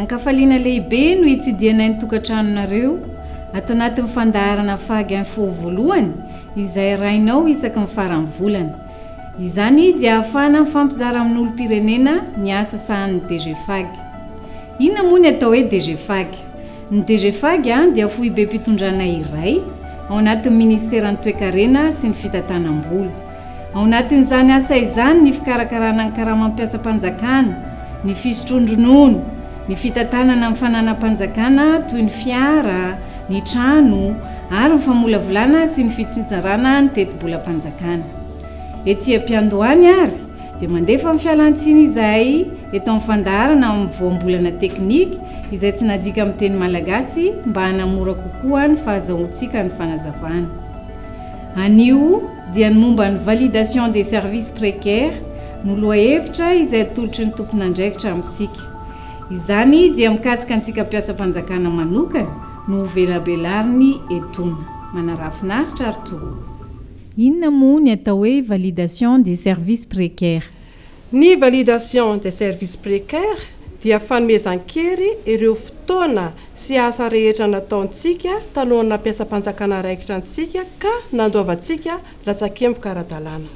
Ankafaliana lehibe no hitsidihanay ny tokantranonareo ato anatin'ny fandaharana Fag Info voalohany izay arahinao isaky ny faran'ny volana. Izany dia ahafahana mifampizara amin'olom-pirenena ny asa sahanin'ny DGFAG. Inona moa ny atao hoe DGFAG? Ny DGFAG dia foibem-pitondrana iray ao anatin'ny Ministeran'ny Toekarena sy ny Fitantanam-bola. Ao anatin'izany asa izany ny fikarakarana ny karamam-piasam-panjakana, ny fisotroan-dronono, ny fitantanana ny fananam-panjakana toy ny fiara, ny trano ary ny famolavolana sy ny fitsitsarana ny tetibolam-panjakana. Ety am-piandohany ary dia mandefa ny fialantsiny izahay eto amin'ny fandaharana amin'ny voambolana teknika izay tsy nadika amin'ny teny malagasy mba hanamora kokoa ny fahazahoantsika ny fanazavana. Anio dia ny momba ny validation des services précaires no lohahevitra izay atolotry ny tompon'andraikitra amintsika. Izany dia mikasika antsika mpiasam-panjakana manokana no hovelabelariny etoana. Manarafinaritra ary toa. Inona moa ny atao hoe validation des services précaires? Ny validation des services précaires dia fanomezan-kery ireo fotoana sy asa rehetra nataontsika talohan'ny nampiasam-panjakana raikitra antsika ka nandoavantsika latsakemboka ara-dalàna.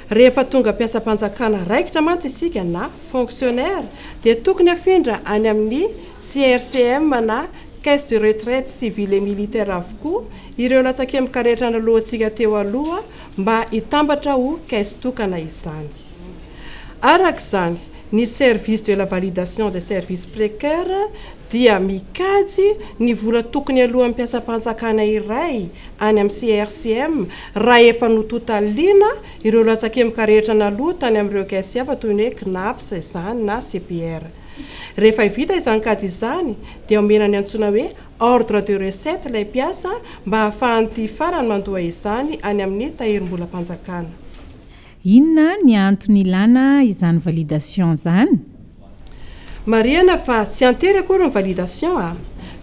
Rehefa tonga mpiasam-panjakana raikitra mantsy isika na fonctionnaire dia tokony afindra any amin'ny CRCM na Caisse de retraite civile et militaire avokoa ireo latsakemboka rehetra nanoloantsika teo aloha mba hitambatra ho caisse tokana izany. Araka izany, ny Service de la validation des services précaires dia mikajy ny vola tokony aloan'ny mpiasam-panjakana iray any amin'ny CRCM raha efa nototaliana ireo latsakemboka rehetra naloa tany amin'ireo caisses hafa toy ny hoe Cnaps izany na CPR. Rehefa vita izany kajy izany dia omena ny antsoina hoe ordre de recette ilay mpiasa mba ahafahan'ity farany mandoa izany any amin'ny tahirim-bolam-panjakana. Inona ny antony ilana izany validation izany? Marihana fa tsy an-tery akory ny validation a!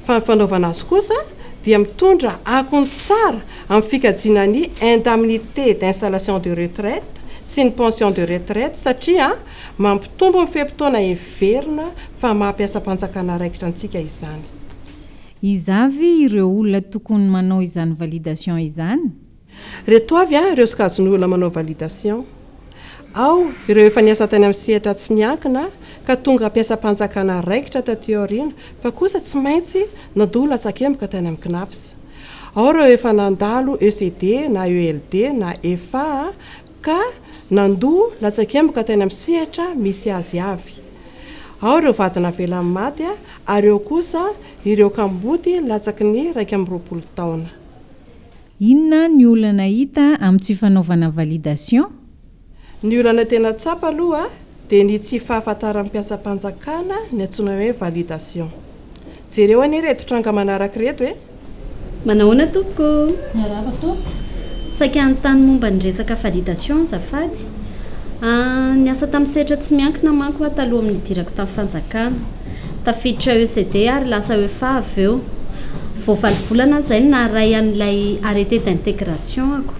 Fa ny fanaovana azy kosa dia mitondra akony tsara amin'ny fikajiana ny indemnité d'installation de retraite sy ny pension de retraite satria Mampitombo ny fe-potoana heverina fa maha mpiasam-panjakana raikitra antsika izany. Iza ve ireo olona tokony manao izany validation izany? Reto avy ireo sokajin'ny olona manao validation. Ao ireo efa niasa tany amin'ny sehatra tsy miankina ka tonga mpiasam-panjakana raikitra taty aoriana fa kosa tsy maintsy nandoa latsakemboka tany amin'ny Cnaps. Ao ireo efa nandalo ECD na ELD na efa ka nandoa latsakemboka tany amin'ny sehatra misy azy avy. Ao ireo vady navelan'ny maty ary eo kosa ireo kamboty latsaky ny iraika amby roapolo taona. Inona ny olana hita amin'ny tsy fanaovana validation? Ny olana tena tsapa aloha dia ny tsy fahafantaran'ny mpiasam-panjakana ny antsoina hoe validation. Jereo anie ireto tranga manaraka ireto e! Manahoana tompoko? Miarahaba tompoko! Saika hanontany momba ny resaka validation azafady. Niasa tamin'ny sehatra tsy miankina manko aho taloha amin'ny nidirako tamin'ny fanjakana. Tafiditra ECD ary lasa EFA avy eo. Vao valo volana izay no naharay an'ilay arrêté d'intégration-ako.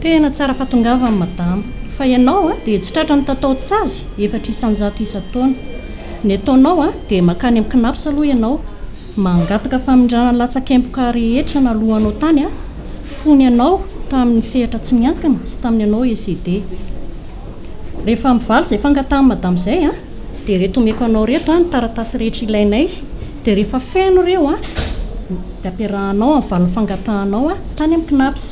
Tena tsara fahatongavana madama. Fa ianao dia tsy tratra ny tataon-tsazy efatra isan-jato isan-taona. Ny ataonao dia mankany amin'ny Cnaps aloha ianao, mangataka famindràna latsak'empoka rehetra naloanao tany fony ianao tamin'ny sehatra tsy miankina sy tamin'ny anao ECD. Rehefa mivaly izay fangatahan'i madama izay an, dia ireto omeko anao ireto an, ny taratasy rehetra ilainay, dia rehefa feno ireo an, dia ampiarahanao amin'ny valin'ny fangatahanao an, tany amin'ny CNAPS.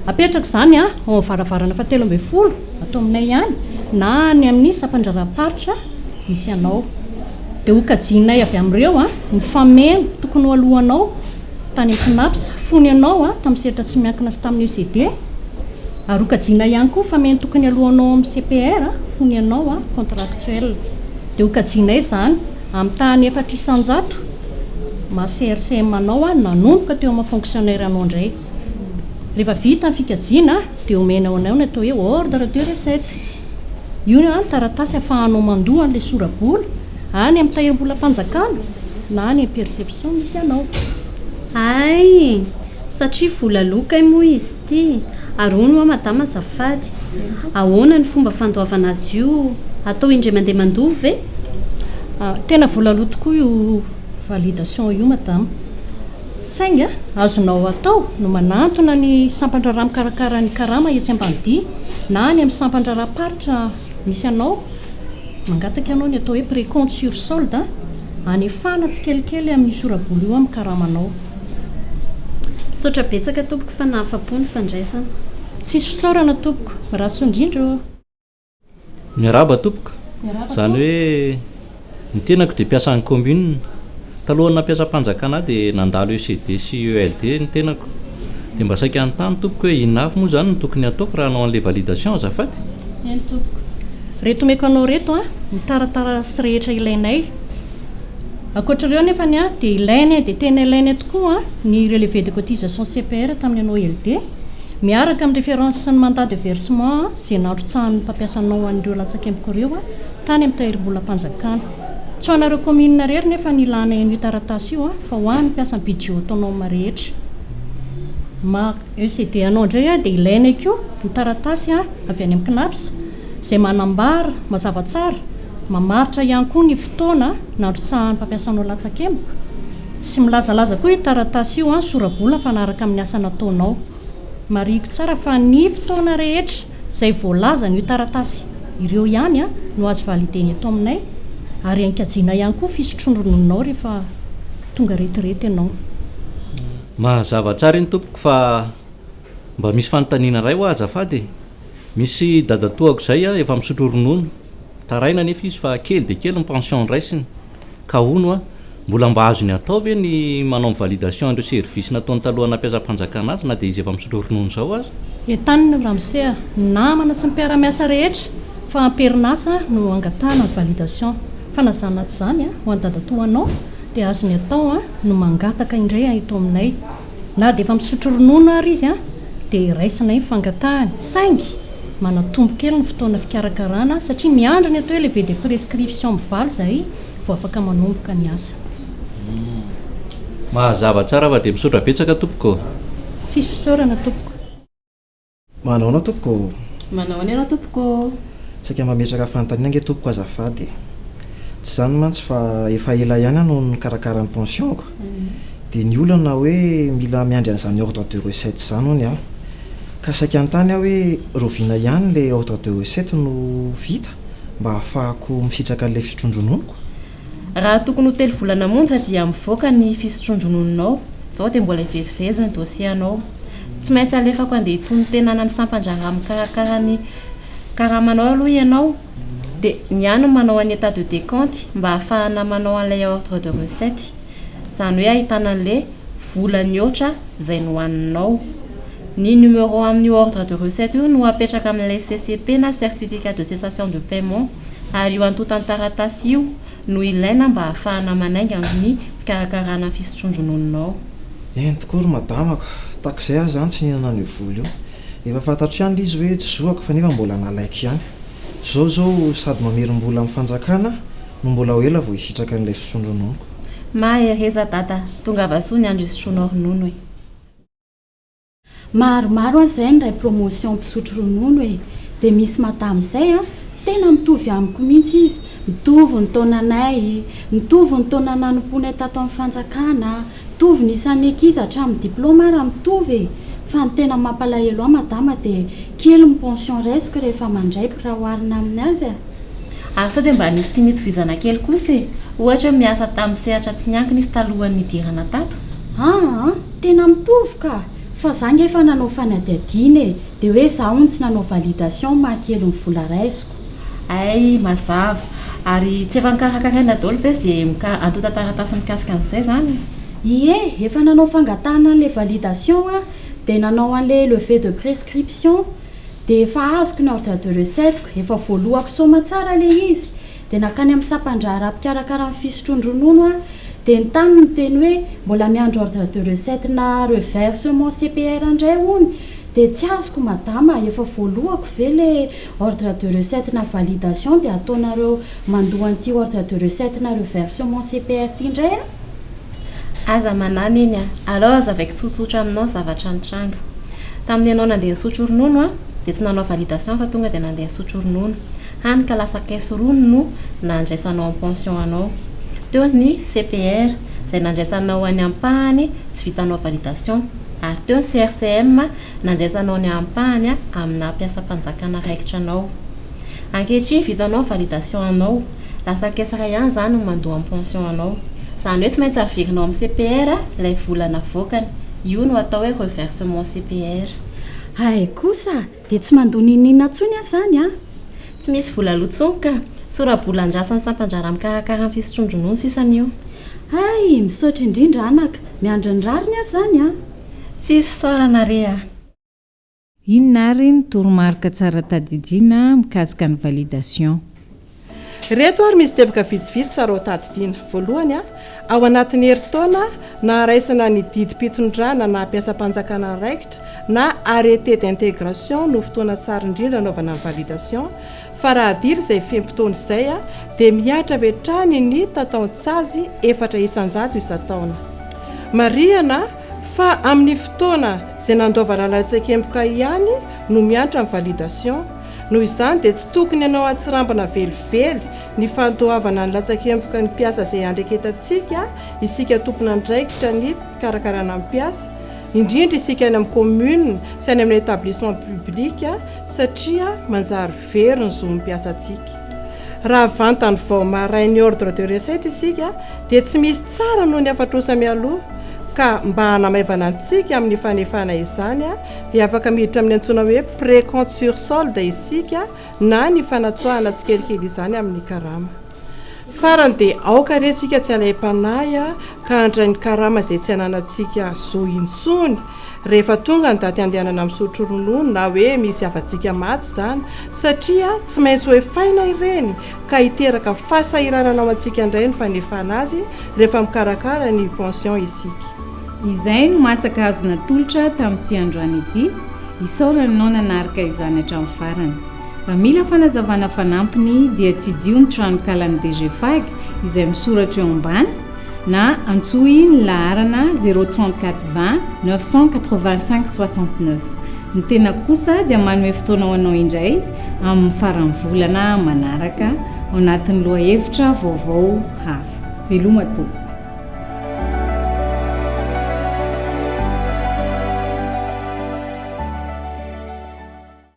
Apetraka izany an, ao amin'ny varavarana fahatelo ambin'ny folo, ato aminay ihany, na any amin'ny sampandraharaham-paritra misy anao. Dia hokajianay avy amin'ireo an, ny fameno tokony ho aloanao tany amin'ny CNAPS, fony ianao an, tamin'ny sehatra tsy miankina sy tamin'ny ECD, Ary ho kajiana ihany koa fa mety tokony alohanao amin'ny CPR fony ianao contractuel. Dia ho kajianay izany amin'ny tahan'ny efatra isan-jato maha CRCM anao nanomboka teo amin'ny maha fonctionnaire anao indray. Rehefa vita ny fikajiana dia omenao anao ny atao hoe ordre de recette. Io no taratasy ahafahanao mandoa an'ilay sora-bola any amin'ny tahirim-bolam-panjakana na any amin'ny perception misy anao. Hay! Satria vola aloa kay moa izy. Ty, ary hono hoa madama azafady, ahoana ny fomba fandoavana azy io, atao indray mandeha mandova ve? Tena vola aloa tokoa io validation io madama, saingy azonao atao no manantona ny sampandraharaha mikarakara ny karama etsy Ambanidia na any amin'ny sampandraharaha-paritra misy anao, Mangataka ianao ny atao hoe précompte sur solde hanefana tsikelikely amin'io sora-bola io amin'ny karamanao. Misaotra betsaka tompoko fa nahafa-po ny fandraisana. Tsisy fisaorana tompoko. Rahasoa indrindra ô. Miarahaba tompoko, izany hoe ny tenako dia mpiasan'ny commune. Talohan'ny nampiasam-panjakana ahy dia nandalo ECD sy ELD ny tenako. Dia mba saika hanontany tompoko hoe inona avy moa izany no tokony hataoko raha hanao an'ilay validation azafady? Eny tompoko. Reto omeko anao reto an, ny taratarasy rehetra ilainay. Ankoatr'ireo nefa ny an dia ilainay dia tena ilainay tokoa an ny relevé de cotisation CPR tamin'ny anao ELD miaraka amin'ny référence sy ny mandat de versement izay nandrotsahan'ny mpampiasanao an'ireo latsakemboko ireo an tany amin'ny tahirimbolam-panjakana. Tsy ho anareo commune rery nefa ny ilana en'io taratasy io fa ho an'ny mpiasa budget autonome rehetra. Ma ECD anao indray dia ilainay koa ny taratasy avy any amin'ny Cnaps izay manambara mazava tsara, mamaritra ihany koa ny fotoana nandrotsahan'ny mpampiasanao latsakemboka sy milazalaza koa io taratasy io sora-bola mifanaraka amin'ny asa nataonao. Marihiko tsara fa ny fotoana rehetra. izay voalaza an'io taratasy ireo ihany no azo valider-na eto aminay ary ankajiana ihany koa fisotroan-ronononao rehefa tonga retirety ianao. Mahazava tsara iny tompoko fa mba misy fanontaniana iray hoa azafady e! Misy dadatoako izay efa misotro ronono, taraina anefa izy fa kely dia kely ny pension raisiny, Ka hono a! Mbola mba azony atao ve ny manao ny validation an'ireo services nataony talohan'ny nampiasam-panjakana azy na dia izy efa misotro ronono izao aza? Entanina io ramose a! Ny namana sy ny mpiara-miasa rehetra fa am-perinasa no angatahana ny validation. Fa na izany na tsy izany a! Ho an'i dadatoa anao dia azony atao a! no mangataka indray a! eto aminay. Na dia efa misotro ronono àry izy dia raisina iny fangatahany, saingy manatombo kely ny fotoana fikarakarana satria miandry ny atao hoe lever de prescription mivaly izahay vao afaka manomboka ny asa. Mazava tsara fa dia misaotra betsaka tompoko. Tsisy fisaorana tompoko. Manao anao tompoko ô! Manao ahoana ianao tompoko ô! Saika mametraka fanontaniana ange tompoko azafady e! Tsy izany mantsy fa efa ela ihany aho no nikarakara ny pension-ko, dia ny olana hoe mila miandry an'izany ordre de recette izany hono aho. Ka saika hanontany aho hoe rahoviana ihany ilay ordre de recette no vita mba hahafahako misitraka an'ilay fisotroan-drononoko? Raha tokony ho telo volana monja dia mivoaka ny fisotroan-dronono'nao, izao dia mbola hivezivezy ny dossier-anao. Tsy maintsy alefako handeha hitonon-tenana amin'ny sampan-draharaha mikarakara ny karamanao aloha ianao, dia ny ahy no manao an'i état de décompte mba hahafahana manao an'ilay ordre de recette, izany hoe ahitana an'le vola mihoatra izay nohaninao. Ny numéro amin'io ordre de recette io no apetraka amin'ilay CCP na certificat de cessation de paiement ary io antontan-taratasy io no ilaina mba hahafahana manainga ny fikarakarana ny fisotroan-dronono-nao. Eny tokoa ry madama ka! Tahaka izay aho izany tsy nihinana an'io vola io. Efa fantatro ihany ilay izy hoe tsy zoako fa nefa mbola nalaiko ihany. Zao zao sady mamerimbola am fanjakana no mbola ho ela vao hisitraka an'ilay fisondro nonko. Mahereza dada, tongava soa ny andro isotroanao ronono e. Maromaro an zay niray promotion mpisotro ronono e, de misy madame zay an, tena mitovy amiko mintsy izy, mitovy ny taonanay, mitovy ny taona nanompoanay tato am fanjakana, Mitovy ny isan'ny ankizy hatramin'ny diploma ary mitovy e! Fa ny tena mampalahelo ahy madama dia kely ny pension raisiko rehefa mandraipo raha oharina amin'ny azy a! Ary sao dia mba nisy tsy nitsovizana kely kosa e! Ohatra hoe miasa tamin'ny sehatra tsy niankina izy talohan'ny nidirana tato? Aa! Tena mitovy ka! Fa za nge efa nanao fanadihadiana e! Dia hoe za hono tsy nanao validation maha kely ny vola raisiko. Hay, mazava. Ary tsy efa nikarakaraina daholo ve ze mika- antontan-taratasy mikasika an'izay izany? Ie, efa nanao fangatahana an'ilay validation aho, dia nanao an'ilay levée de prescription, dia efa azoko ny ordre de recette-ko, efa voaloako soma tsara ilay izy, dia nankany amin'ny sampan-draharaha mpikarakara ny fisotroan-dronono aho, dia ny tany niteny hoe mbola miandry ordre de recette-na reversement CPR indray hono, dia tsy azoko madama, efa voaloako ve ilay. Ordre de recette na validation dia ataonareo mandoa an'ity ordre de recette na reversement CPR ity indray a! Aza manahy Neny a! Alors avec tsotsotra aminao zavatra nitranga. Tamin'ny ianao nandeha nisotro ronono a! dia tsy nanao validation fa tonga dia nandeha nisotro ronono. Hany ka lasa caisse rony no nandraisanao ny pension anao. Teo ny CPR izay nandraisanao any ampahany tsy vitanao validation. Ary teo ny CRCM nandraisanao ny ampahany aminà mpiasam-panjakana raikitra anao. Ankehitriny vitanao ny validation anao, lasa kesaka ihany izany ny mandoa ny pension anao. Izany hoe tsy maintsy averinao amin'ny CPR ilay vola navoakany, io no atao hoe reversement CPR. Hay kosa dia tsy mandoa n'inon'inona intsony aho izany an! Tsy misy vola aloha intsony ka! Sora-bola andrasan'ny sampan-draharaha mikarakara ny fisotroan-dronono sisa anio. Hay! Misaotra indrindra anaka! Miandry ny rariny aho izany an! Tsy isaorana re a! Inona ary ny toromarika tsara tadidiana mikasika ny validation? Ireto ary misy teboka vitsivitsy tsara ho tadidiana. Voalohany, Ao anatin'ny herintaona naharaisana ny didim-pitondrana na mpiasam-panjakana andraikitra na arrêté d'intégration no fotoana tsara indrindra anaovana ny validation, Fa raha adilo izay fe-potoana izay dia mihatra avy hatrany ny tataon-tsazy efatra isan-jato isan-taona. Marihana fa amin'ny fotoana izay nandoavana lalan-tsaikemboka ihany no miantra ny validation, noho izany dia tsy tokony hanao hatsirambina velively ny fandoavana ny latsakemboka ny mpiasa izay iandreketantsika isika tompon'andraikitra ny fikarakarana ny mpiasa, indrindra isika any amin'ny commune sy any amin'ny établissement public satria manjary very ny zon'ny mpiasantsika. Raha vantany vao marin ny ordre de recette isika dia tsy misy tsara noho ny afatrosa mialoha ka mba hanamaivana antsika amin'ny fanefana izany dia afaka miditra amin'ny antsoina hoe précompte sur solde isika na ny fanatsoahana tsikelikely izany amin'ny karama. Farany dia aoka re isika tsy alaim-panahy ka handray ny karama izay tsy ananantsika zo intsony rehefa tonga ny daty handehanana misotro ronono na hoe misy havantsika maty izany satria tsy maintsy hoefaina ireny ka hiteraka fahasahiranana ao antsika indray ny fanefana azy rehefa mikarakara ny pension isika. Izay no masaka azo natolotra tamin'ity androany ity, isaorany nao nanarka izany hatramin'ny farany. Raha mila fanazavana fanampiny dia tsidiho ny tranonkalan'ny DGFAG izay misoratra eo ambany na antsoy ny laharana 034 20 985 69. Ny tenako kosa dia manome fotoana ho anao indray amin'ny faran'ny volana manaraka ao anatin'ny lohahevitra vaovao hafa. Veloma tompoko!